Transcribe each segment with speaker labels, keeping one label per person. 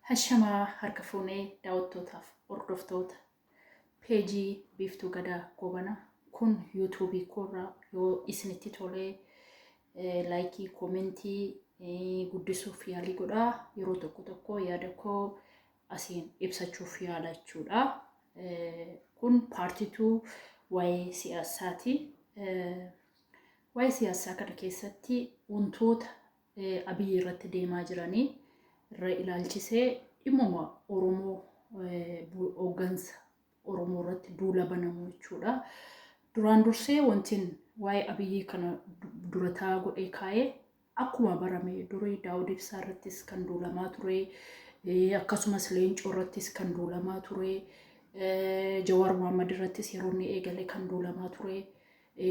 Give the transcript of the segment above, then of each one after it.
Speaker 1: Hashamaa harka fuunee daawwattootaaf hordoftoota peejii Biiftuu Gadaa Goobanaa kun yuutuubii koorraa yoo isinitti tolee laayikii koomentii guddisuuf yaalii godhaa yeroo tokko tokko yaada koo asiin ibsachuuf yaala jechuudha. Kun paartituu waa'ee siyaasaati. Waa'ee siyaasaa kana keessatti wantoota Abiy irratti deemaa jiranii irra ilaalchisee dhimmuma Oromoo hooggansa Oromoo irratti duula banamu jechuudha. Duraan dursee wantiin waa'ee Abiyyii kana durataa godhee kaa'ee Akkuma barame durii Daawud Ibsaa irrattis kan duulamaa ture, akkasumas Leencoo irrattis kan duulamaa ture, Jawaar Mohaammed irrattis yeroo inni eegale kan duulamaa ture,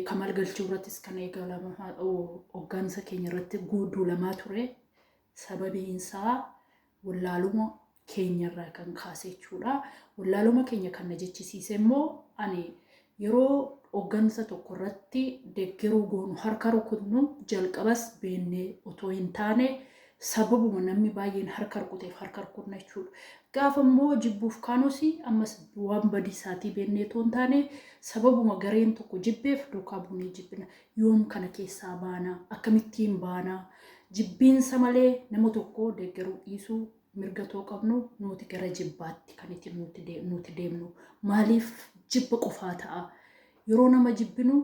Speaker 1: Kamal Galchuu irrattis kan eegalamaa hooggansa keenya irratti duulamaa ture. Sababiin isaa wallaaluma keenyarraa kan kaase jechuudha. Wallaaluma keenya kan na jechisiise immoo ani yeroo hooggansa tokko irratti deggeruu goonu harka rukutnu jalqabas beennee otoo hin taane sababuma namni baay'een harka rukuteef harka rukutna jechuudha. Gaafa immoo jibbuuf kaanus ammas waan badii isaatii beennee otoo hin taane sababuma gareen tokko jibbeef duukaa buunee jibbina. Yoom kana keessaa baana? Akkamittiin baana? Jibbiinsa malee nama tokko deeggaruu dhiisuu mirga otoo qabnu nuuti gara jibbaatti kan itti nuuti deemnu. Maaliif jibba qofaa ta'a? Yeroo nama jibbinu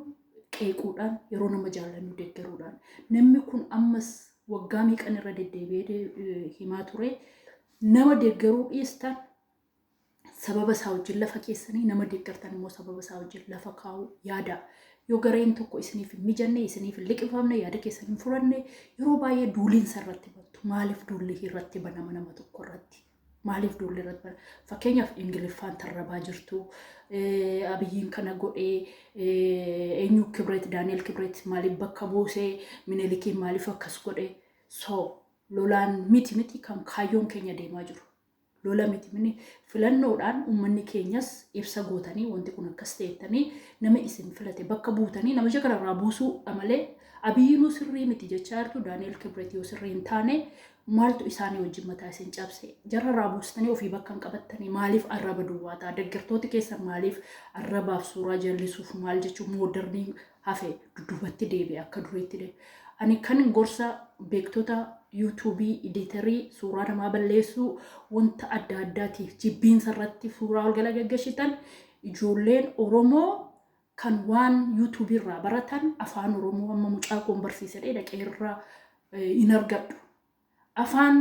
Speaker 1: qeequudhaan, yeroo nama jaallannu deeggaruudhaan. Namni kun ammas waggaa meeqan irra deddeebi'ee himaa ture. Nama deeggaruu dhiistan sababa isaa wajjin lafa keessanii nama deeggartan immoo sababa isaa wajjin lafa kaa'uu yaada. Yoo gareen tokko isiniif hin mijanne, isiniif hin liqimfamne, yaada keessan hin furanne, yeroo baay'ee duuliinsa irratti bantu. Maaliif duulli irratti banama nama tokko irratti? Maaliif duulli irratti banama? Fakkeenyaaf Ingiliffaan tarrabaa jirtu, Abiyyiin kana godhee, eenyu Kibret, Daani'el Kibret maaliif bakka buusee, Minilikiin maaliif akkas godhee? So, lolaan miti miti kan kaayyoon keenya deemaa jiru. lola miti mini filannoodhaan ummanni keenyas ibsa gootanii wanti kun akkas ta'ettanii nama isin filate bakka buutanii namicha kana irraa buusuu amalee abiyyinuu sirrii miti jechaa jirtu daani'el kibret yoo sirrii hin taane maaltu isaanii wajjin mataa isin cabse jarra irraa buustanii ofii bakka hin qabattanii maaliif arraba duwwaataa deggertooti keessan maaliif arrabaaf suuraa jallisuuf maal jechuun moodarnii hafe dudubatti deebi'e akka duriitti deebi'e. Ani kan gorsa beektota yuutuubii iditarii suuraa namaa balleessuu wanta adda addaatiif jibbiinsa irratti suuraa ol gala gaggeshitan ijoolleen Oromoo kan waan yuutuubii irraa baratan afaan Oromoo amma mucaa koon barsiisadhee dhaqee irraa hin argadhu. Afaan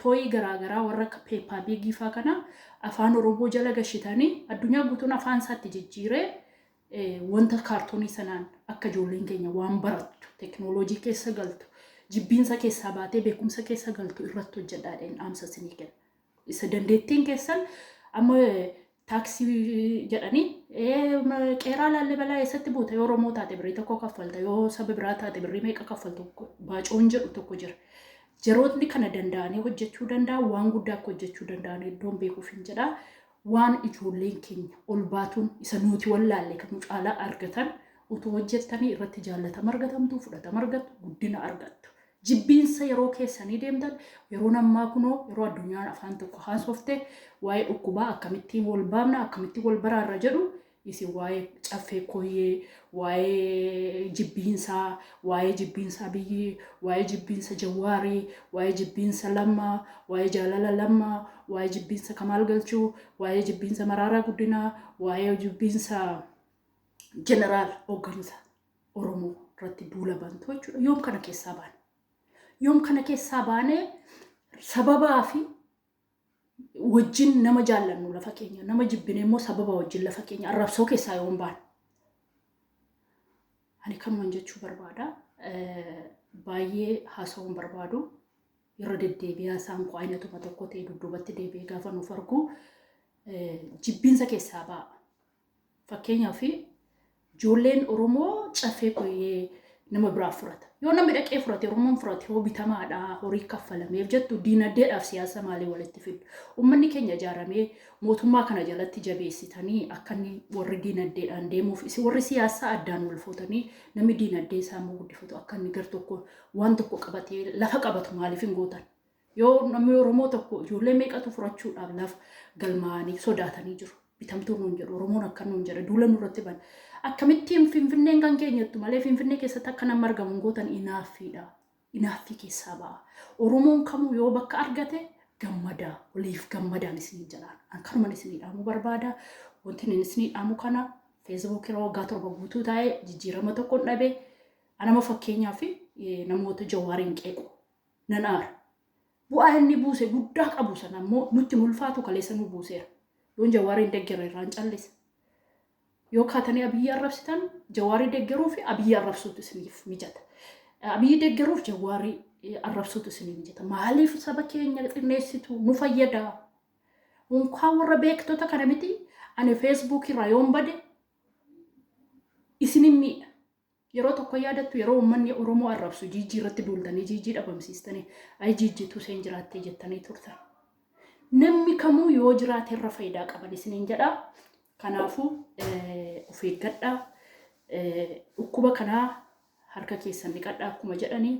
Speaker 1: tooyii garaa garaa warra akka Peppa Pig faa kana afaan Oromoo jala gashitani addunyaa guutuun afaan isaatti jijjiiree wanta kaartoonii sanaan akka ijoolleen keenya waan barattu teknooloojii keessa galtu jibbiinsa keessaa baatee beekumsa keessa galtu irratti hojjedhaadheen dhaamsa isinii kenna. Isa dandeettiin keessan amma taaksii jedhanii "Ee, ma- qeeraa laallibalaa eessatti buuta yoo Oromoo taate birrii tokko kaffalta yoo saba biraa taate birrii meeqa kaffaltu baacoon jedhu tokko jira. Jarootni kana danda'anii hojjechuu danda'an waan guddaa akka hojjechuu danda'an iddoon beekuuf hin jedha. Waan ijoolleen keenya ol baatuun isa nuti wallaalle kan nu caalaa argatan utuu hojjettanii irratti jaallatama argatamtu, fudhatama argattu, guddina argattu. Jibbiinsa yeroo keessanii deemtan yeroon ammaa kunoo yeroo addunyaan afaan tokko haasofte waa'ee dhukkubaa akkamittiin wal baafna akkamittiin wal baraarra jedhu isin waa'ee caffee koyyee waa'ee jibbiinsaa waa'ee jibbiinsaa biyyii waa'ee jibbiinsa jawaarii waa'ee jibbiinsa lammaa waa'ee jaalala lammaa waa'ee jibbiinsa kamaal galchuu waa'ee jibbiinsa maraaraa guddinaa waa'ee jibbiinsa jeneraal hooggansa Oromoo irratti duula bantu jechuudha. Yoom kana keessaa baane? Yoom kana keessaa baanee sababaa fi wajjin nama jaallannu lafa keenya, nama jibbine immoo sababa wajjin lafa keenya arrabsoo keessaa yoom baane? Ani kanuman jechuu barbaada. Eh, Baay'ee haasawuun barbaadu. Irra deddeebi'aa isaan koo aynatuma tokko ta'e dudduubatti deebi'ee gaafa nuuf argu eh, jibbiinsa keessaa ba'a. Fakkeenyaaf ijoolleen Oromoo caffee koyyee nama biraa furata. Yoo namni dhaqee furate Oromoon furate hoo bitamaadha horii kaffalameef jettu diinagdeedhaaf siyaasa maalii walitti fiddu. Uummanni keenya ijaaramee mootummaa kana jalatti jabeessitanii akka inni warri diinagdeedhaan deemuuf isin warri siyaasaa addaan wal fuutanii namni diinagdee isaa immoo guddifatu akka inni gar tokko waan tokko qabatee lafa qabatu maaliif hin gootan. Yoo namni Oromoo tokko ijoollee meeqatu furachuudhaaf lafa galmaa'anii sodaatanii jiru. Bitamtuu nuun jedhu Oromoon akka nuun jedha duula nurratti bana. Akkamittiin Finfinneen kan keenyattu malee Finfinnee keessatti akka nama argamu hin gootan inaaffiidha. Inaaffii keessaa ba'a. Oromoon kamuu yoo bakka argate gammadaa waliif gammadaan isiniin jedhaan. An kanuman isinii dhaamuu barbaada. Wanti inni isinii dhaamu kana feesbuukii irra waggaa torba guutuu taa'ee jijjiirama tokko hin dhabe. Anama fakkeenyaa fi namoota jawaariin qeequ nan aara. Bu'aa inni buuse guddaa qabu sana ammoo nutti hin ulfaatu kaleessa nu buuseera. Yoon Jawaariin deggere irraan callisa. Yoo kaatanii Abiyyi arrabsitan Jawaarii deggeruu fi Abiyyi arrabsuutu isiniif mijata. Abiyyi deggeruuf Jawaarii arrabsuutu isiniif mijata. Maaliif saba keenya xinneessitu nu fayyada. Unkaan warra beektota kana miti ani feesbuukii irraa yoon bade isinin miidha. Yeroo tokko yaadattu yeroo uummanni Oromoo arrabsu jiijjii irratti duultanii jiijjii dhabamsiistanii ayi jiijjiitu isheen jiraattee jettanii turtan. Namni kamuu yoo jiraate irra faayidaa qaban isiniin jedha. Kanaafuu of eeggadhaa. Dhukkuba kanaa harka keessan dhiqadhaa akkuma jedhanii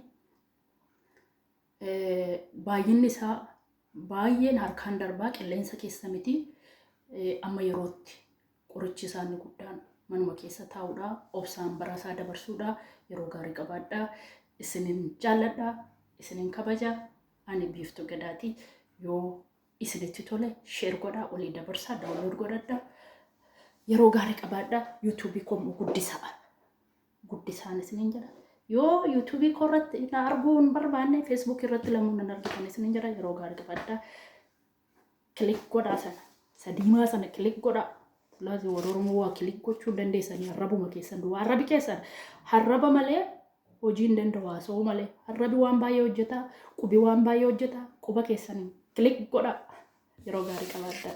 Speaker 1: Baay'inni isaa baay'een harkaan darbaa qilleensa keessa miti. Amma yerootti qorichi isaa inni guddaan manuma keessa taa'uudha. Obsaan bara isaa dabarsuudha. Yeroo gaarii qabaadha. Isinin jaalladha. Isinin kabaja. Ani biiftuu gadaati. Yoo isinitti tole sheer godhaa olii dabarsaa daawunlood godhadha. Yeroo gaarii qabaadha. Yuutuubii koo guddisaa. guddisaan isiniin jedha. Yoo yuutuubii koo irratti na arguu hin barbaanne feesbuukii irratti lamuu nan argitan isiniin jedha yeroo gaarii qabadha. Kilik godhaa sana sadiimaa sana kilik godhaa. Laazii warra Oromoo waa kilik gochuu dandeessanii arrabuma keessan duwwaa arrabi keessan harraba malee hojii hin danda'u haasa'uu malee harrabi waan baay'ee hojjeta qubi waan baay'ee hojjeta quba keessanii kilik godhaa yeroo gaarii qabaadhaa.